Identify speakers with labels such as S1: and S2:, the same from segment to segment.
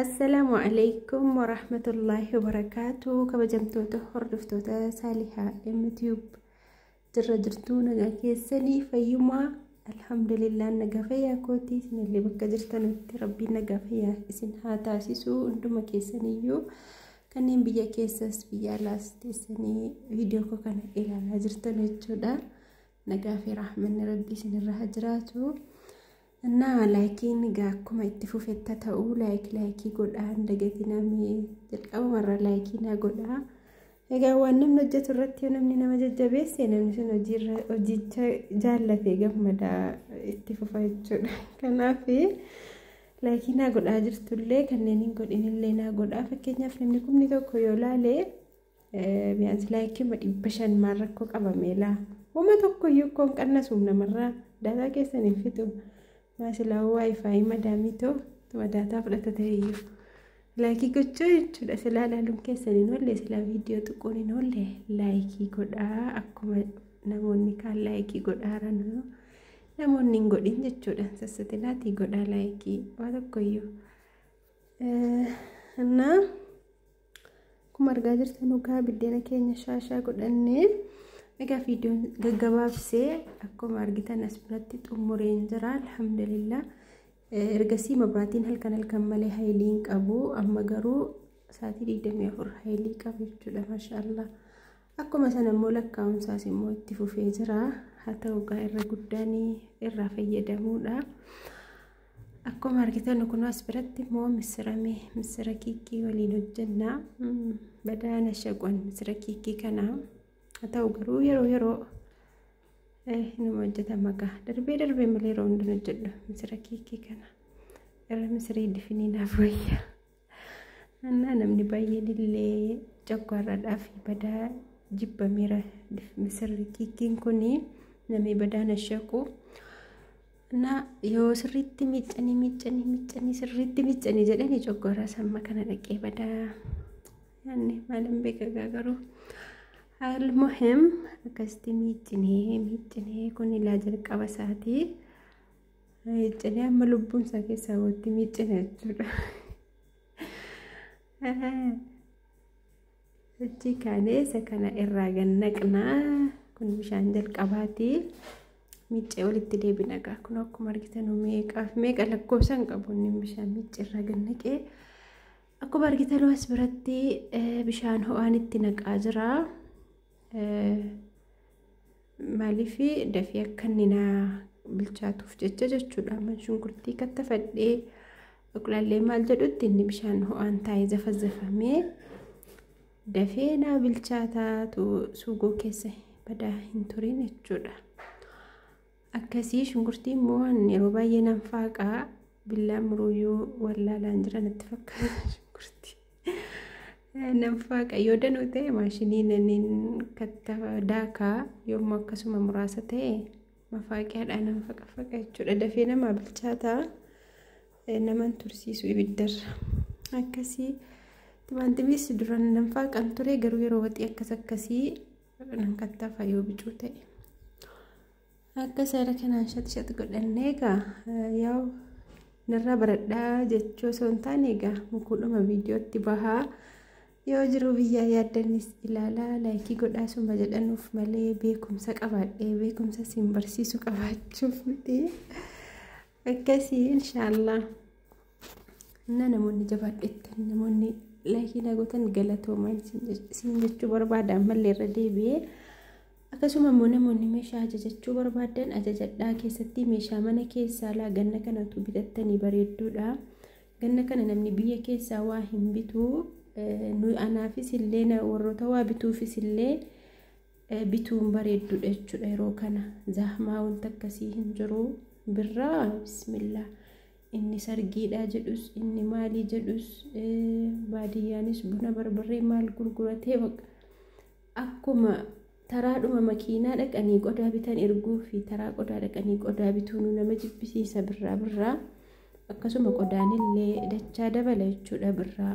S1: Assalaamu alaikum warahmatullaahi wabarakaatu kabajamtoota hordoftoota saalihaa mtube jirra jirtuu nagaa keessanii fayyumaa alhamdulillah nagaa fayyaa kootii isinillee bakka jirtanitti rabbiin nagaa fayyaa isin haa taasisuu hunduma keessaniyyuu kanneen biyya keessas biyya alaas teessanii viidiyoo koo kana ilaalaa jirtan jechuudha. Nagaa fi raaxmanni rabbii isinirra haa jiraatu. Innaa laayikiin egaa akkuma itti fufetta ta'u laayik laayikii godhaa hin dagatinaa mee jalqabumarra laayikii naa godhaa. Egaa waan namni hojjetu irratti yoo namni nama jajjabeesse namni sun hojiirra hojicha jaallatee gammada itti fufa jechuudha. Kanaaf Laayikii naa godhaa jirtullee kanneen hin godhinillee naa godhaa fakkeenyaaf namni kumni tokko yoo laale biyyaansi laayikii dhibba shan maal rakkoo qabamee laa wama tokko iyyuu koon qannasuuf namarraa daataa keessan hin fixu maasilaa waayifaayi madaamii too tuma daataa fudhata ta'eyyuu laayikii gochuu jechuudha silaa ilaaluun keessan hin oolle silaa viidiyoo tuquun hin oolle laayikii godhaa akkuma namoonni kaan laayikii godhaaranuu Namoonni hin godhin jechuudhaan sassatilaatii godhaa laayikii waa tokkoyyuu. Innaa akkuma argaa jirtan dhugaa biddeena keenya shaashaa godhannee egaa viidiyoon gaggabaabsee akkuma argitan as biratti xumureen jira alhamdulillah. Ergasii mabraatiin halkan halkan malee hayilii hin qabu amma garuu sa'aatii 24 hayilii qabu jechuudha maashaallah. Akkuma sana immoo lakkaa'umsaas immoo itti fufee jira. Haa ta'u egaa irra guddaan irraa fayyadamuudha. Akkuma argitan kun as biratti immoo missirame missira kiikii waliin hojjenna. Badaana shaqwan missira kiikii kana haa ta'u garuu yeroo yeroo inuma hojjetama egaa darbee darbee malee yeroo hundumaa hojjedhu missira kiikii kana irra missirii difiniinaaf wayya. Annaa namni baay'een illee coggaarraadhaaf badaa jibbameera misirri kiikkiin kun namni badaa na shaqu. Annaa yoo sirriitti miiccanii miiccanii miiccanii sirriitti miiccanii jedhanii coggaarraa samma kana dhaqee badaa. Yaanni maalan beeka garuu almuhim akkasitti miiccinee miiccinee kun ilaa jalqaba isaatii. Miiccinee amma lubbuun isaa keessaa walitti miiccina jechuudha. Hojii kaanee isa kana irraa gad naqnaa kun bishaan jalqabaati. Miiccee walitti deebina egaa kun akkuma argitan meeqaaf meeqa lakkoofsa hin qabu inni bishaan miiccee irraa gad naqee. Akkuma argitan as biratti bishaan ho'aan itti naqaa jira. Maaliif dafee akka inni naa bilchaatuuf jecha jechuudha. Amma shunkurtii kattafadhee qulallee maal jedhutti inni bishaan ho'aan taa'ee zafazzafamee dafee naa bilchaataatu suugoo keessa badaa hin turin jechuudha. Akkasii shunkurtii immoo an yeroo baay'ee nan faaqaa billaan muruuyyuu wallaalaan jira natti fakkaata shunkurtii. Nan faaqa yoo danuu ta'e maashinii naniin katta daakaa yoommoo akkasuma muraasa ta'e mafaaqiyaadhaan nan faqafaqa jechuudha dafee namaa bilchaataa naman tursiisu ibiddarra akkasii timaantimiis duran nan faaqan ture garuu yeroo waxii akkas akkasii nan kattafa yoo bicuu ta'e akka seera kanaan shaxshax godhannee egaa yaa'u narraa baradhaa jechuu osoo hin taane egaa mukuudhuma viidiyootti bahaa yoo jiru biyyaa yaaddannis ilaalaa laayikii godhaa suma jedhanuuf malee beekumsa qabaadhee beekumsa siin barsiisu qabaachuuf miti. Akkasii inshaallah. Innaa namoonni jabaadhettan namoonni laayikii naa gootan galatooma isin jechuu barbaada ammallee irra deebi'ee. Akkasuma immoo namoonni meeshaa ajajachuu barbaadan ajajadhaa keessatti meeshaa mana keessaa laa ganna kana utuu bitattanii bareedduudha. Ganna kana namni biyya keessaa waa hin bitu. Anaafis illee warroota waa bituufis illee bituun bareeddudha jechuudha yeroo kana zahmaa wanta akkasii hin jiru birraa bismillah inni sargiidha jedhus inni maalii jedhus baadiyyaanis buna barbarree maal gurguratee baqa akkuma taraadhuma makiinaa dhaqanii qodaa bitan erguu fi taraa qodaa dhaqanii qodaa bituun nama jibbisiisa birraa birraa akkasuma qodaanillee dachaa dabala jechuudha birraa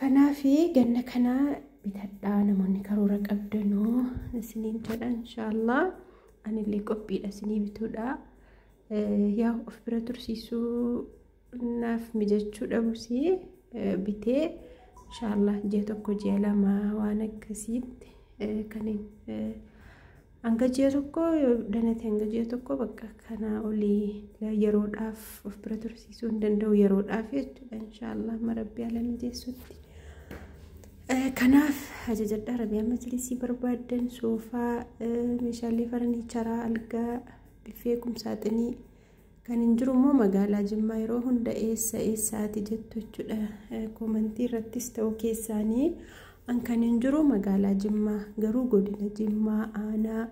S1: Kanaafi ganna kana bitadhaa namoonni karoora qabdanuu isiniin jedha inshaallah anillee qophiidha isinii bituudha yaa of bira tursiisuu naaf mijachuu dhabusii bitee inshaallah ji'a tokko ji'a lama waan akkasiitti kan Hanga ji'a tokkoo yoo danate hanga ji'a tokkoo bakka kanaa olii yeroodhaaf of bira tursiisuu hin danda'u yeroodhaaf jechuudha inshaallah amma rabbi ala mijeessutti. Kanaaf ajajadhaa rabiyaa majlisii barbaaddan soofaa meeshaalee faraniicharaa algaa biffee kumsaaxinii Kan hin jiru immoo magaalaa Jimmaa yeroo hunda eessa eessaati jettu jechuudha. Koomantii irrattis ta'uu keessaanii an kan hin jiru magaalaa Jimmaa garuu godina Jimmaa aanaa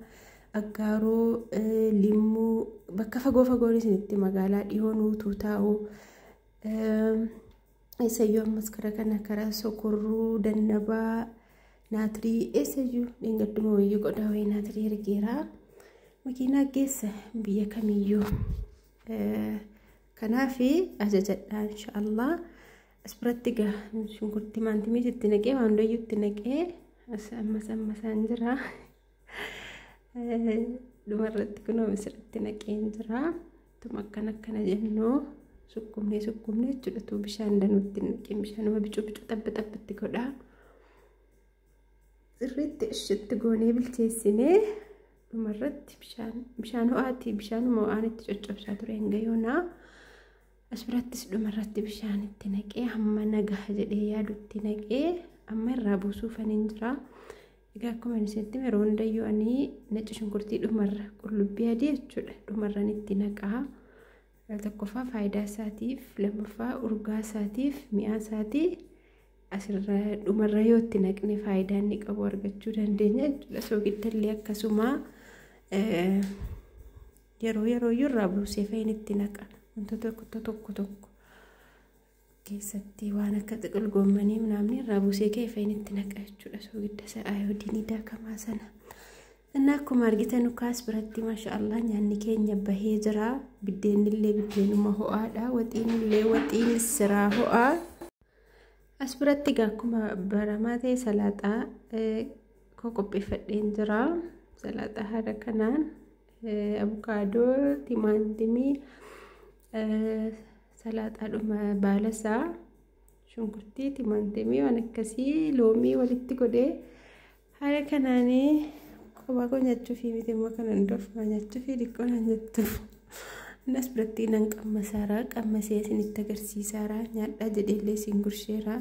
S1: Aggaaroo Limmuu bakka fagoo fagoon isinitti magaalaa dhihoo nuutuu taa'u. Eessayyuu ammas kara kana kara sokorruu dannabaa naatirii eessayyuu dheengadduma wayii qodaa wayii naatirii ergeera makiinaa geessa biyya kamiyyuu kanaaf ajajadhaa inshaallah as biratti gaa shunkurti maantimii itti naqee waan doyyuu itti naqee ammas ammasaan jira dhumarratti kunoo misirratti naqeen jira Tuma akkana akkana jennuu sukkumnee sukkumnee jechuudha tuu bishaan danuutti naqin bishaanuma bicuu bicuu xabba xabbatti godhaa. Sirriitti ishitti goonee bilcheessinee dhumarratti bishaan bishaan ho'aati bishaanuma ho'aan itti coccobsaa ture hanga yoonaa. As birattis dhumarratti bishaan itti naqee hamma nagaha jedhee yaadutti naqee amma irraa buusuufan hin jiraa. Egaa akkuma isinitti hime yeroo hundayyuu ani nacci shunkurtii dhumarra qullubbii adii jechuudha dhumarran itti naqaa. Tokkoffaa faayidaa isaatiif lammaffaa urgaa isaatiif mi'aa isaatii asirra dhumarra yoo itti naqne faayidaa inni qabu argachuu dandeenya jechuudha. Soogiddallee akkasuma yeroo yeroo iyyuu irraa buusee fa'iin itti naqa wantoota tokko tokko. keessatti waan akka xiqil goommanii mnaamni irraa buusee ka'e feenitti naqa jechuudha soogidda isa ayoodiinii daakamaa sana. Innaa akkuma argitan ukaas biratti maashaallah nyaanni keenya bahee jira. Biddeenni illee biddeenuma ho'aadha. Waxiin illee waxiin siraa ho'aa. As biratti egaa akkuma baramaa ta'e salaaxaa koo qopheeffadheen jira. Salaaxaa haala kanaan abukaadoo, timaantimii, Salaaxaadhuma baala isaa shunkurtii, timaatimii waan akkasii loomii walitti godhee haala kanaanii kophaa koo nyaachuuf miti immoo kan hundoofuma nyaachuuf xiqqoo naan jettu. Innis biratti nan qammasaaraa qammasee isinitti agarsiisaaraa nyaadhaa jedheellee isin gursheeraa.